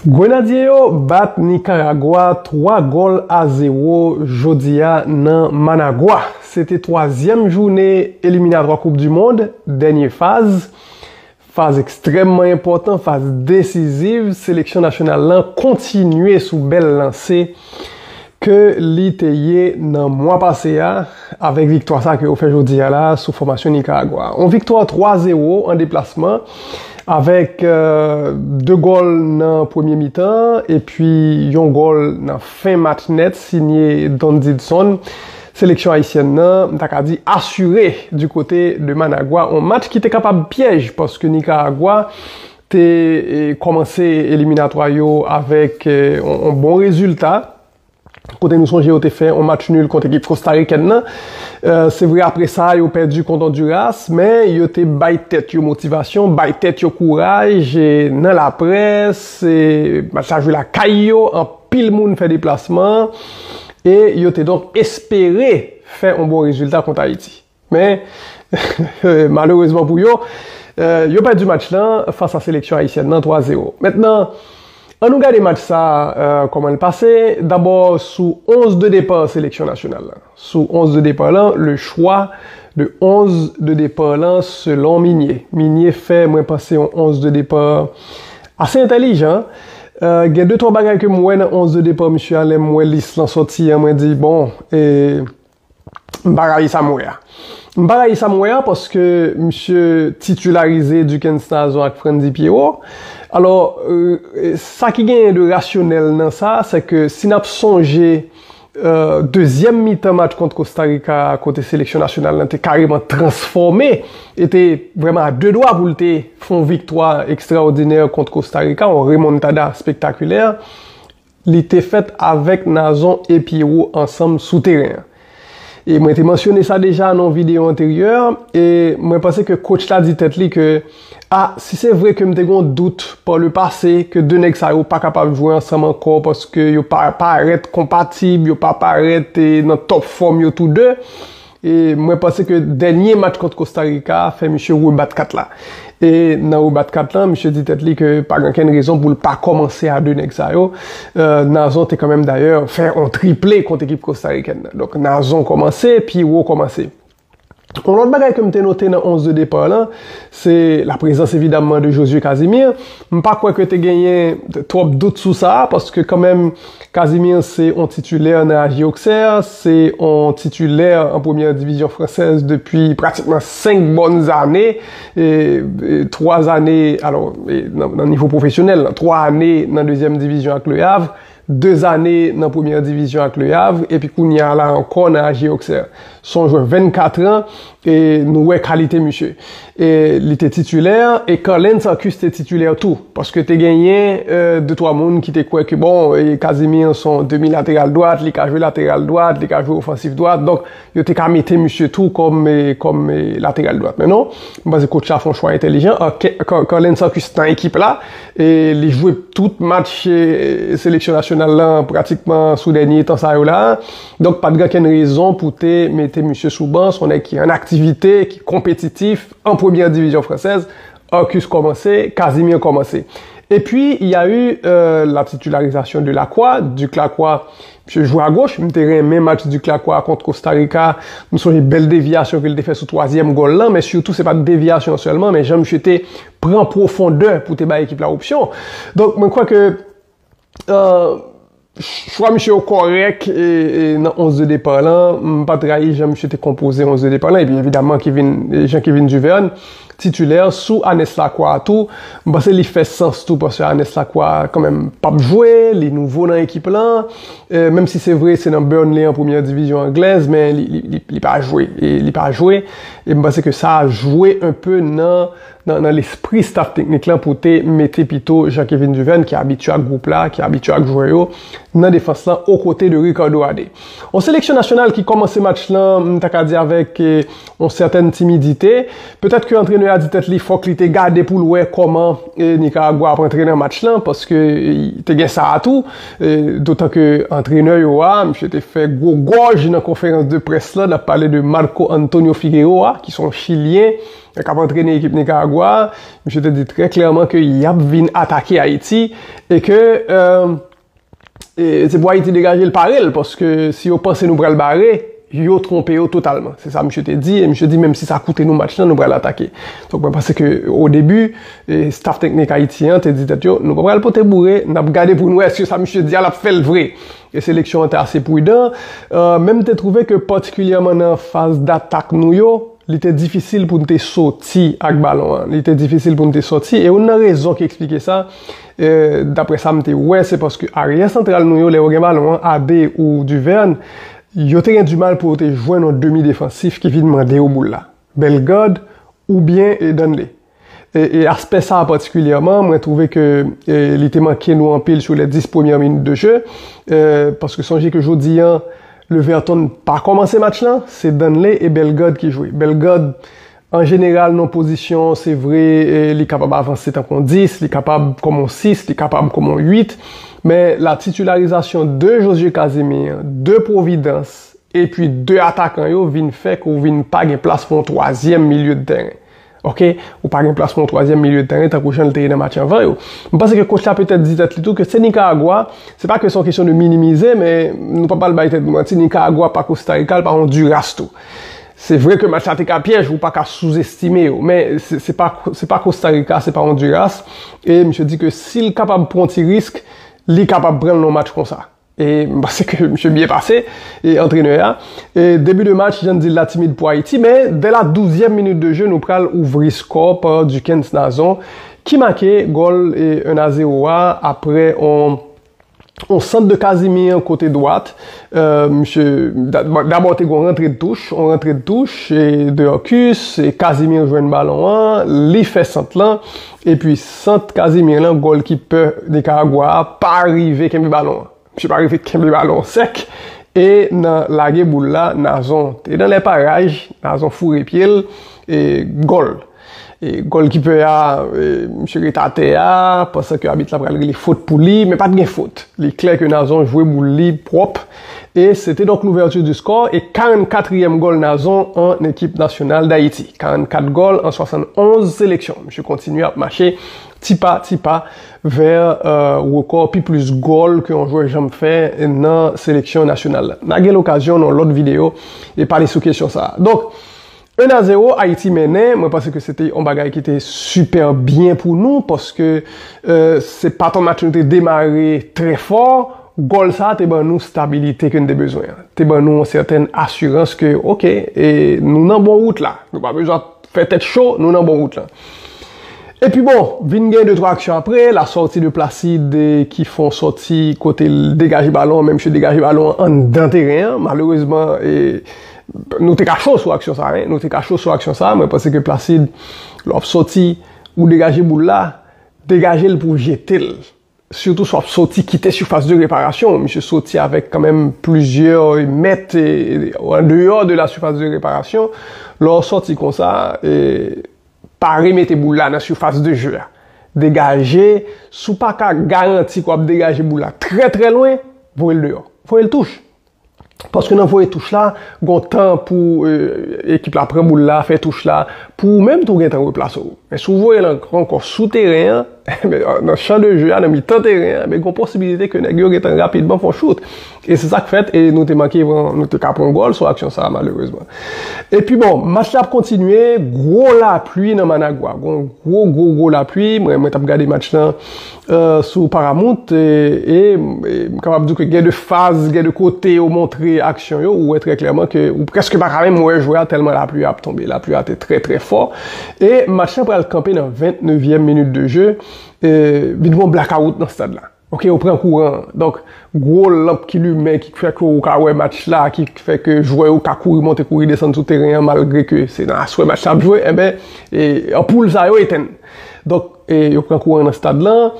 Grenadye yo bat Nikaragwa 3 gòl a 0 jodi a nan Managua. Se te twazyèm joune eliminatwa koup du mond, dènye faz. Faz ekstrèmman enpòtan, faz desiziv, seleksyon nasyonal lan kontinye sou bèl lanse. ke li te ye nan mwa pase a avèk viktwa sa ke yo fè jodi a la sou fòmasyon Nikaragwa. On viktwa 3 zewo an deplasman avèk 2 gòl nan premye mitan epi yon gòl nan fen match nèt sinye Don Didson. Seleksyon ayisyèn nan m ta ka di asire di kote de Managwa on match ki te kapab pyèj paske Nikaragwa te kòmanse eliminatwa yo avèk yon bon rezilta kote nou sonje yo te fè yon match nul kont ekip kostarikèn nan. Se vre apre sa yo pèdi kont Onduras, men yo te bay tèt yo motivasyon, bay tèt yo kouraj nan laprès, match la jwe lakay yo, anpil moun fè deplasman, e yo te donk espere fè yon bon rezilta kont Ayiti. Men, malerezman pou yo, yo pèdi match la fas a seleksyon ayisyèn nan 3 zero. Mentnan, an nou gade match sa a kòman l pase, dabò sou 11 de depa seleksyon nasyonal la. Sou 11 de depa lan, le chwa de 11 de depa lan selon Migne. Migne fè mwen panse yon 11 de depa ase entèlijan. Gen de twa bagay ke m wè nan 11 de depa misye a lè m wè lis lan sòti an mwen di bon e. M pa rayi sa m wè a. M pa rayi sa m wè a paske misye titularize Duckens Nazon ak Frantzy Pierrot. Alò, sa ki genyen de rasyonèl nan sa, se ke si n ap sonje dezyèm mitan match kont Kostarika a kote seleksyon nasyonal la te kareman transfòme e te vrèman a de dwa pou l te fè yon viktwa ekstraòdinè kont Kostarika, yon remontada spektakilè, Li te fèt avèk Nazon e Pyero ansanm sou teren an. E mwen te mansyone sa deja nan yon videyo anteryè, e mwen panse ke kotch la di tèt li ke, A, si se vre ke m te gen yon dout pa le pase ke 2 nèg sa yo pa kapab jwe ansanm ankò paske yo pa parèt konpatib, yo pa parèt nan tòp fòm yo tou 2, E mwen panse ke dènye match kont Kosta Rika a fè misye rebat kat la. E nan rebat kat la, misye di tèt li ke pa gen okenn rezon pou l pa kòmanse a 2 nèg sa yo. Nazon te kanmenm dayè fè yon triple kont ekip kostarikèn nan. Donk Nazon kòmanse, Pierrot kòmanse. Yon lòt bagay ke m te note nan 11 de depart lan, se la prezans evidamman de Josué Casimir. M pa kwè ke te genyen twòp dout sou sa, paske kanmenm Casimir se yon titulè nan AG Auxerre, se yon titulè an premyè divizyon fransèz depi pratikman 5 bòn zane, 3 zane nan nivo pwofesyonèl, 3 ane nan dezyèm divizyon ak Le Havre, 2 zane nan premyè divizyon ak Le Havre epi kounya la ankò nan AG Auxerre. Se yon jwè 24 an E nou wè kalite misye. E li te titulè, e Carlens Arcus te titulè tou. Paske te genyen de twa moun ki te kwè ke bon, Casimir se yon demi lateral dwat, li ka jwe lateral dwat, li ka jwe ofansif dwat. Donk, yo te ka mete misye tou kòm lateral dwat. Men non, m panse coach la fè yon chwa entelijan. Carlens Arcus nan ekip la, e li jwe tout match seleksyon nasyonal la pratikman sou dènye tan sa yo la. Donk pat gen okenn rezon pou te mete misye sou ban, son nèg ki an aktivite, ki konpetitif, an premyè divizyon fransèz, Arcus kòmanse, Casimir kòmanse. Epi y a eu la titularisation de Lacroix, Duc Lacroix, misye jwe a goch, m te renmen match Duc Lacroix kont Costa Rica, m sonje bèl devyasyon ke l te fè sou twazyèm gòl lan, men sitou se pat devyasyon sèlman men jan misye te pran pwofondè pou te bay ekip la opsyon. Donk mwen kwè ke Chwa misye yo kòrèk nan 11 de depart lan, m pat rayi jan misye te konpoze 11 de depart lan, epi evidaman Jean Kevin Duverne titulè sou Anes Lacroix a tou, m panse li fè sans tou paske Anes Lacroix kanmenm pap jwe, li nouvo nan ekip lan, menm si se vre se nan Burnley an premyè divizyon anglèz men li pa jwe, li pa jwe, e m panse ke sa jwe enpe nan nan lespri staf teknik lan pou te mete pito Jean Kevin Duverne ki abitye ak gwoup la, ki abitye ak jwè yo, nan defans lan okote de Ricardo Adé. Yon seleksyon nasyonal ki kòmanse match lan m ta ka di avèk yon sètèn timidite. Petèt ke antrenè a di tèt li fòk li te gade pou l wè kòman Nikaragwa ap antre nan match lan paske te gen sa a tou. Dotan ke antrenè yo a, misye te fè gwo gòj nan konferans de près lan, n ap pale de Marco Antonio Figueroa ki son chilyen, Lè kap antrene ekip Nikaragwa a, misye te di trè klèman ke yap vin atake Ayiti e ke se pou Ayiti degaje l pare l paske si yo panse nou pral bare, yo twonpe yo totalman. Se sa misye te di e misye di menm si sa koute nou match lan, nou pral atake. Donk mwen panse ke o debi, staff teknik Ayiti an te di tèt yo, nou pa pral pote boure, nap gade pou nou wè eske sa misye di a lap fè l vre. E seleksyon an te ase prudan. Menm te twouve ke patikilyèman nan faz datak nou yo, Li te difisil pou n te soti ak balon an. Li te difisil pou n te soti. E youn nan rezon ki eksplike sa, dapre sa m te wè, se paske aryè santral nou yo, lè yo gen balon an, Abe ou Duverne, yo te gen dimal pou yo te jwenn yon demi defansif ki vin mande yo boul la. Bellegarde oubyen Danley. E aspè sa patikilyèman, mwen twouve ke li te manke nou anpil sou les 10 premyè minit de jeu. Paske sonje ke jodi an, Leverton pa kòmanse match lan, se Danley e Bellegarde ki jwe. Bellegarde, an jeneral nan pozisyon, se vre li kapab avanse tankou yon 10, li kapab kòm yon 6, li kapab kòm yon 8. Men la titilarizasyon de Josue Casimir, de Providence, epi de atakan yo vin fè ke ou vin pa gen plas pou yon twazyèm milye de tèren. Ok, ou pa gen plas pou yon twazyèm milye de tèren tankou jan li te ye nan match anvan yo. M panse ke kotch la petèt di tèt li tou ke se Nikaragwa, se pa ke se yon kesyon de minimize, men nou pa pral bay tèt nou manti, Nikaragwa pa Kosta Rika, li pa yon Ondiras tou. Se vre ke match la te ka pyèj, ou pa ka souzestime yo, men se pa se pa Kosta Rika, se pa Ondiras, e misye di ke si l kapab pran yon ti risk, li kapab pran l nan yon match konsa. E m panse ke misye byen pase, antrenè a. E debi de match, jan n di l la timid pou Ayiti, men vè la douzyèm minit de je nou pral ouvri skò pa Duckens Nazon ki make gòl 1 a 0 a aprè on on sant de Casimir kote dwat. Misye, dabò te gen on rantre de touch, on rantre de touch, e Deurcus, e Casimir jwenn balon an, li fè sant lan. Epi sant Casimir lan golkipè Nicaragua a pa rive kenbe balon an. Misye pa rive kenbe balon an sèk e nan lage boul la Nazon te nan lè paraj, Nazon foure pye l e gòl. E golkipè a misye ret atè a pansan ke abit la pral rele fot pou li men pat gen fot. Li klè ke Nazon jwe boul li pwòp. E se te donk l'ouverture du score e 44 trièm gòl Nazon an ekip nasyonal Dayiti. 44 gòl an 71 seleksyon. Misye kontinye ap mache ti pa ti pa vè rekò pi plis gòl ke yon jwè janm fè nan seleksyon nasyonal la. Na gen l'okazyon nan yon lòt videyo e pale sou kesyon sa a. Donk, 1 a 0 Ayiti mennen, mwen panse ke se te yon bagay ki te sipè byen pou nou paske se pa ton match nou te demare trè fò, gòl sa te ban nou stabilite ke n te bezwen an, te ban nou yon sètèn asirans ke ok nou nan bon wout la, nou pa bezwen ap fè tèt cho, nou nan bon wout lan. Epi bon, vin gen 2 twa aksyon apre, la sòti de Placide ki fè yon sòti kote l degaje balon an men misye degaje balon an anndan teren an, malerezman e. Nou te ka cho sou aksyon sa wi. Nou te ka cho sou aksyon sa, mwen panse ke Placide lè wap sòti ou degaje boul la, degaje l pou w jete l. Sitou si wap sòti kite sifas de reparasyon w, misye sòti avèk kanmenm plizyè mèt andeyò de la sifas de reparasyon, lè w sòti konsa pa remete boul la nan sifas de je a. Degaje, si w paka garanti ke wap degaje boul la trè trè lwen, voye l deyò. Voye l touch! Paske nan voye touch la, gon tan pou ekip la pran boul la, fè touch la, pou ou menm tou gen tan replase ou. Men si w voye l ankò sou teren an, nan chan de je a, nan mitan teren an, gon posibilite ke nèg yo gen tan rapidman fè yon chout. E se sa k fèt, e nou te manke pran, nou te ka pran gòl sou aksyon sa a malerezman. E pi bon, match la ap kontinye, gwo lapli nan Managua. Gon gwo gwo gwo lapli, mwen mwen t ap gade match lan. sou Paramount e m kapab di w ke gen de faz, gen de kote yo montre aksyon yo, ou wè trè klèman ke ou prèske pa ka menm wè jwè a tèlman lapli a ap tonbe. Lapli a te trè trè fò e match lan pral kanpe nan 20 nevyèm minit de je, vin gen yon blakawout nan stad la. Ok yo pran kouran, donk gwo lanp ki limen ki fè ke ou ka wè match la, ki fè ke jwè yo ka kouri monte kouri desann sou teren an malgre ke se nan aswè match la ap jwe, enben anpoul sa yo etenn. Donk. E yo pran kouran nan stad lan.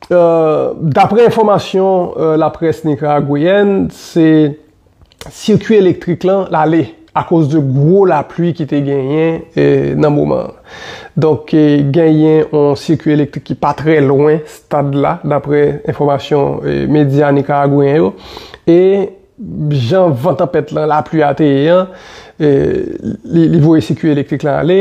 Daprè enfòmasyon laprès nikaragweyèn, se sirkui elektrik lan lale akoz de gwo lapli ki te genyen nan moman an. Donk genyen yon sirkui elektrik ki pa trè lwen stad la daprè enfòmasyon medya nikaragweyen yo. E jan van tanpèt lan, lapli a te ye an, li voye sirkui elektrik lan ale.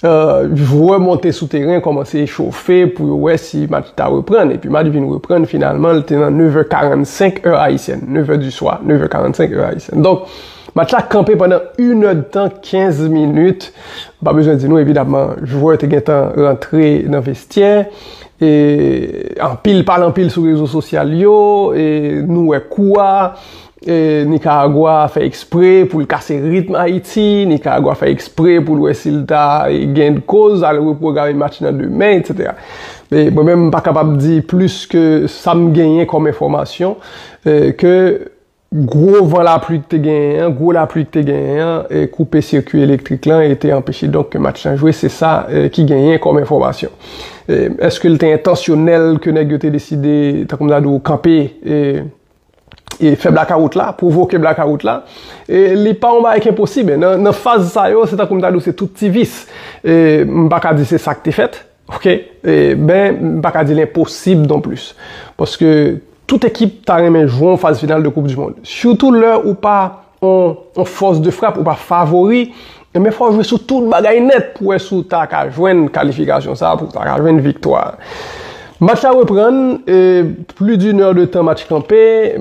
Jwè monte sou teren kòmanse echofe pou yo wè si match ta reprann epi match vin reprann finalman li te nan 9 è 45 è ayisyèn, 9 è di swa, 9 è 45 è ayisyèn. Donk match la kanpe pandan inèdtan 15 minit, m pa bezwen di nou evidamman jwè te gentan rantre nan vestyè e anpil pale anpil sou rezo sosyal yo e nou wè kou a. Nicaragua fè ekspre poul kase ritm Ayiti, Nicaragua fè ekspre poul wè sil ta gen koz al reprograme match nan demen etc. Mwen menm m pa kapab di plis ke sam genyen kòm enfòmasyon ke gwo van lapli k te genyen an, gwo lapli k te genyen an koupe sikwi elektrik lan e te anpeche donk ke match lan jwe, se sa ki genyen kòm enfòmasyon. Eske l te entansyonèl ke nèg yo te deside tankou m ta di w kanpe? e fè blakawout la, pwovoke blakawout la, e li pa yon bagay ki enposib. Nan faz sa yo, se tankou m ta di w se tout ti vis. E m pa ka di se sa k te fèt, ok, e ben m pa ka di l enposib non plis. Paske tout ekip ta renmen jwe yon faz final de koup di mond. Sitou lè ou pa yon fòs de frap ou pa favori, enben fò w jwe sou tout bagay nèt pou wè si w ta ka jwenn kalifikasyon sa a, pou w ta ka jwenn viktwa a. Match la reprann, pli d'une heure de temps match kanpe,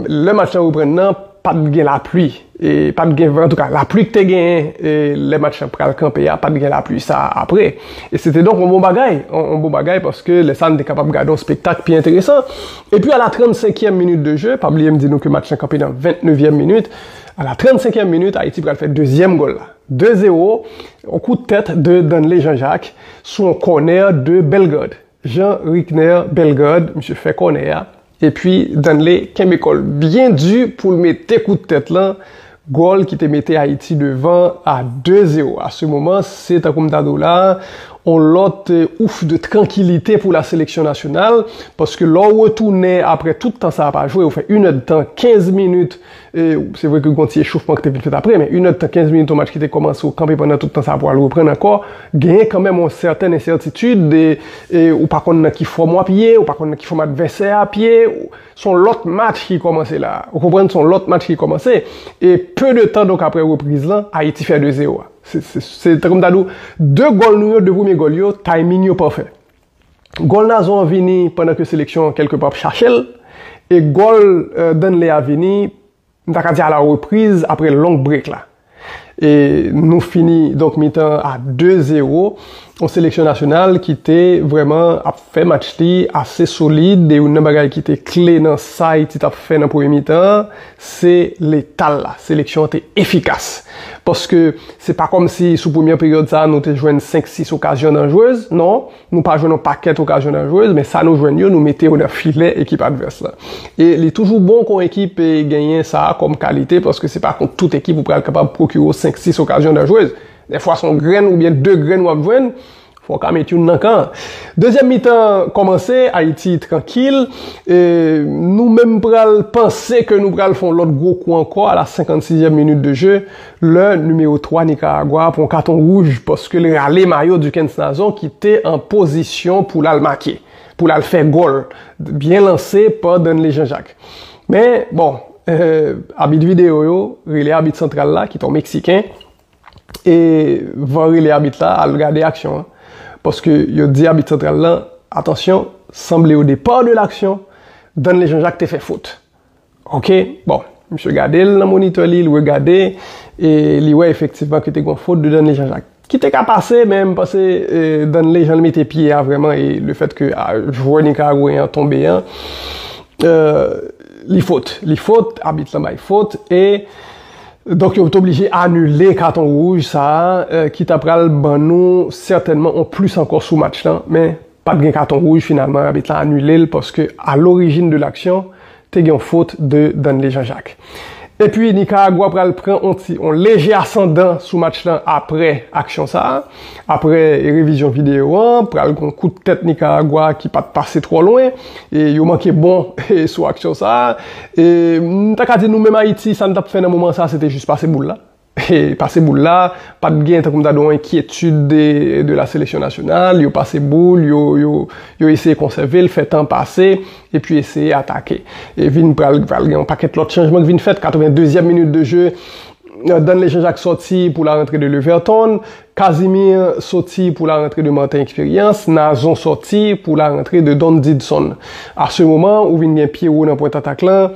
lè match la reprann nan, pa t gen lapli, pa t gen van, antouka lapli ki te genyen lè match la pral kanpe a, pa t gen lapli sa a apre. E se te donk yon bon bagay, yon bon bagay paske lè sa a nou te kapab gade yon spektak pi enteresan. E pi a la 35 èm minit de je, pa bliye m di nou ke match lan kanpe nan 29 èm minit, a la 35 èm minit Ayiti pral fè dezyèm gòl la. 2 zero, yon kout tèt de Danley Jean Jacques sou yon kònè de Bellegarde. Jean Ricner Bellegarde, misye fè kònè a, e pi Danley kenbe kò l byen di pou l mete kout tèt lan, Gòl ki te mete Ayiti devan a 2 zero. A se moman, se tankou m ta di w la, on lòt ouf de trankilite pou la seleksyon nasyonal, paske lè w retounen apre tout tan sa a pa jwe, ou fè inèdtan 15 minit, se vre ke gen yon ti echofman ki te vin fèt apre, men inèdtan 15 minit yon match ki te kòmanse, ou kanpe pandan tout tan sa a pou al reprann ankò, genyen kanmenm on sèten ensètitid, ou pa konn nan ki fòm w ap ye, ou pa konn nan ki fòm advèsè a ap ye. Son lòt match ki kòmanse la a. Ou konprann son lòt match ki kòmanse e peu de tan donk aprè repriz lan Ayiti fè 2 zero a. Se tankou m ta di w 2 gòl nou yo, 2 premye gòl yo, timing yo pafè. Gòl Nazon an vini pandan ke seleksyon an kèlke pa ap chache l e gòl Danley a vini M ta ka di a la repriz apre long break la. E nou fini donk mitan a 2 zero. Yon seleksyon nasyonal ki te vrèman ap fè match li ase solid. E youn nan bagay ki te kle nan sa Ayiti t ap fè nan premye mitan an, se letal la. Seleksyon an te efikas. Paske se pa kòmsi sou premyè peryòd sa a nou te jwenn 5, 6 okazyon danjrez. Non. Nou pa jwenn yon pakèt okazyon nan jwez, men sa nou jwenn yo, nou mete yo nan filè ekip advès la. E li toujou bon kon ekip genyen sa a kòm kalite, paske se pa kont tout ekip ou pral kapab pwokire w 5, 6 okazyon nan jwez. Dèfwa se yon grenn oubyen 2 grenn w ap jwenn, fò w ka met youn nan kan an. Dezyèm mitan kòmanse, Ayiti trankil, e nou menm pral panse ke nou pral fè yon lòt gwo kou ankò a la 56 èm minit de je, Lè nimewo 3 Nikaragwa a pran katon wouj paske l rale mayo Duckens Nazon ki te an pozisyon pou l al make, pou l al fè gòl, byen lanse pa Danley Jean Jacques. Men, bon, abit videyo yo rele abit santral la ki t on Meksiken e van rele abit la al gade aksyon an paske yo di abit santral lan, atansyon, sanble o depar de l'action, Danley Jean Jacques te fè fot. Ok, bon, misye gade l nan monitè li, li regade, e li wè efektivman ke te gen yon fot de Danley Jean-Jacques. Ki te ka pase, men m panse Danley jan li mete pye a vrèman e le fèt ke jwè nikaragweyen an tonbe an, li fot. Li fot, abit lan bay fot, e donk yo te oblije anile katon wouj sa a ki ta pral ban nou sètènman yon plis ankò sou match lan, men. Pat gen katon wouj finalman arbitre lan anule l paske a l'origine de l'action te gen yon fot de Danley Jean Jacques. Epi Nicaragua pral pran yon ti yon leje asandan sou match lan aprè aksyon sa, aprè revizyon video an pral gen yon kout tèt Nicaragua ki pat pase twò lwen e yo manke bon sou aksyon sa e m ta ka di nou menm Ayiti sa n tap fè nan moman sa se te jis pase boul la. Pase boul la, pat gen tankou m ta di w yon enkyetid de la seleksyon nasyonal, yo pase boul, yo eseye konsève l, fè tan pase, epi eseye atake. E vin pral gen yon pakèt lòt chanjman ki vin fèt, 82 zièm minit de je, Danley Jean Jacques sòti pou la rantre de Leverton, Casimir sòti pou la rantre de Martin Expérience, Nazon sòti pou la rantre de Don Didson. A se moman ou vin gen Pierrot nan pwent atak lan,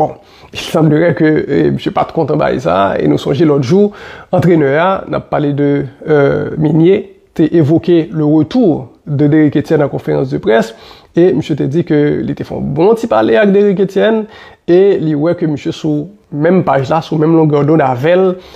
Bon, il semblerait ke misye pat kontan bagay sa, e nou sonje lòt jou, antrenè a, n ap pale de Migne, te evoke le retour de Derrick Etienne an konferans de près, e misye te di ke li te fè yon bon ti pale ak Derrick Etienne, e li wè ke misye sou menm paj la, sou menm longè dond avè l,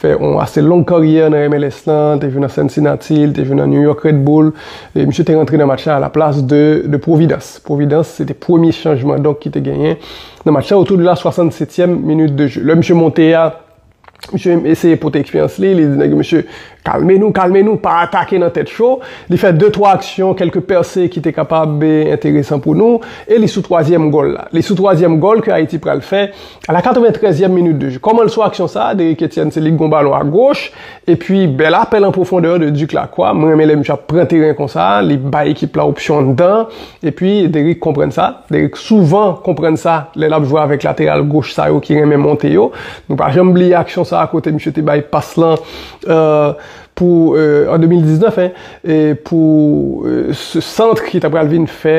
fè yon ase long karyè nan MLS lan, te jwe nan Cincinnati, li te jwe nan New York Red Bull, e misye te rantre nan match la a la plas de de Providence. Providence se te premye chanjman donk ki te genyen nan match la otou de la 67èm minit de jeu. Lè misye monte a, misye eseye pote eksperyans li, li di nèg yo mesye kalme nou, kalme nou, pa atake nan tèt cho, li fè de twa aksyon, kèlke pèse ki te kapab enteresan pou nou, e li sou twazyèm gòl la. Li sou twazyèm gòl ke Ayiti pral fè A la 93 yèm minit de jeu, kòman l sou aksyon sa a, Derrick Etienne se li k gon balon a goch, epi bèl apèl an pwofondè de Duc Lacroix, mwen renmen lè misye ap pran teren konsa, li bay ekip la opsyon anndan, epi Derrick konprann sa, Derrick souvan konprann sa lè l ap jwe avèk lateral goch sa yo ki renmen monte yo, nou pa janm bliye aksyon sa a kote misye te bay pas lan pou, an 2019 hein, pou santr ki ta pral vin fè.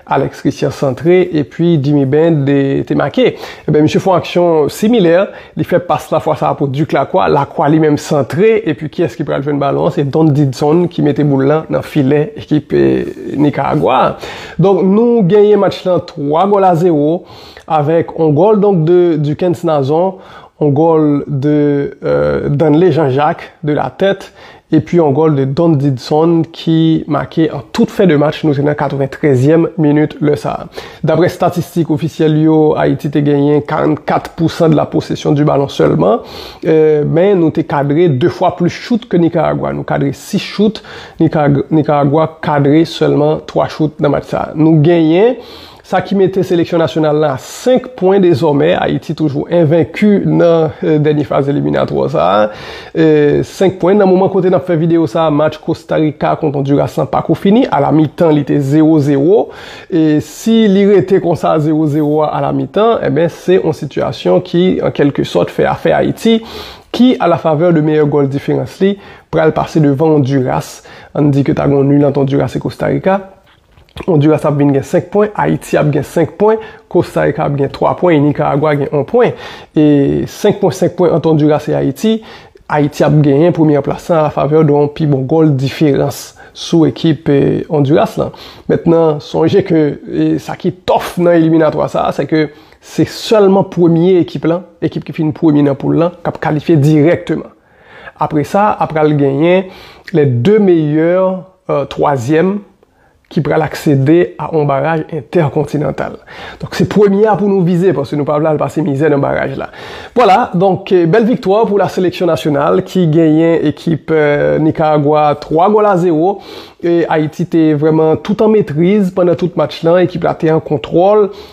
Alex Christian santre epi Djimmy Bend te make. Ebyen misye fon aksyon similè, li fè pas la fwa sa pou Duc Lacroix, Lacroix li menm santre epi kiyès ki pral jwenn balon an, se Don Didson ki mete boul lan nan filè ekip Nikaragwa a. Donk nou genyen match lan 3 gòl a 0 avèk on gòl donk de Duckens Nazon, on gòl de Danley Jean Jacques de la tèt epi yon gòl de Don Didson ki make an tout fen de match, nou te nan 93 zièm minit lè sa a. Daprè statistik ofisyèl yo, Ayiti te genyen 44 pou san de la posesyon di balon sèlman, men nou te kadre 2 fwa plis chout ke Nikaragwa, nou kadre 6 chout, Nikaragwa kadre sèlman 3 chout nan match sa a. Nou genyen. Sa ki mete seleksyon nasyonal la a 5 pwen dezòmè. Ayiti toujou envenki nan dènye faz eliminatwa sa a. 5 pwen. Nan moman kote n ap fè videyo sa a, match Kosta Rika kont Ondiras lan pako fini. A la mitan li te zewo zewo. Si li rete konsa zewo zewo a a la mitan, enben se yon sitiyasyon ki an kèlke sòt fè afè Ayiti ki a la favè de meyè gòl diferans li pral pase devan Ondiras. An n di ke ta gen yon nil ant Ondiras e Kosta Rika. Onduras ap vin gen 5 pwen, Ayiti ap gen 5 pwen, Kosta Rika ap gen 3 pwen e Nikaragwa gen 1 pwen. E 5 pwen 5 pwen ant Onduras e Ayiti, Ayiti ap genyen premyè plas lan afavè de yon pi bon gòl diferans sou ekip Onduras lan. Mentnan sonje ke sa ki tòf nan eliminatwa sa a se ke se sèlman premye ekip lan, ekip ki fin premye nan poul lan, k ap kalifye dirèkteman. Apre sa a pral genyen lè 2 meyè twazyèm ki pral aksede a on baraj entèkontinantal. Donk se premye a pou nou vize paske nou pa vle al pase mizè nan baraj la. Vwala, donk bèl viktwa pou la seleksyon nasyonal ki genyen ekip Nikaragwa 3 gòl a 0. Ayiti te vrèman tout an metriz pandan tout match lan, ekip la te an kontwòl.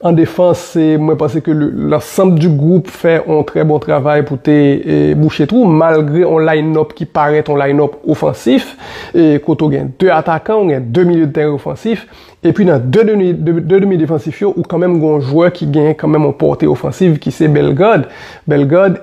En défense, mwen panse ke l'ensemble du groupe fè on trè bon travay pou te bouche twou, malgre on line up ki parèt on line up ofansif, kote ou gen 2 atakan, ou gen 2 milieu de terrain ofansif, epi nan 2 demi defansif yo, ou kanmenm gen on jwè ki gen kanmenm on portée offensive ki se Bellegarde, Bellegarde.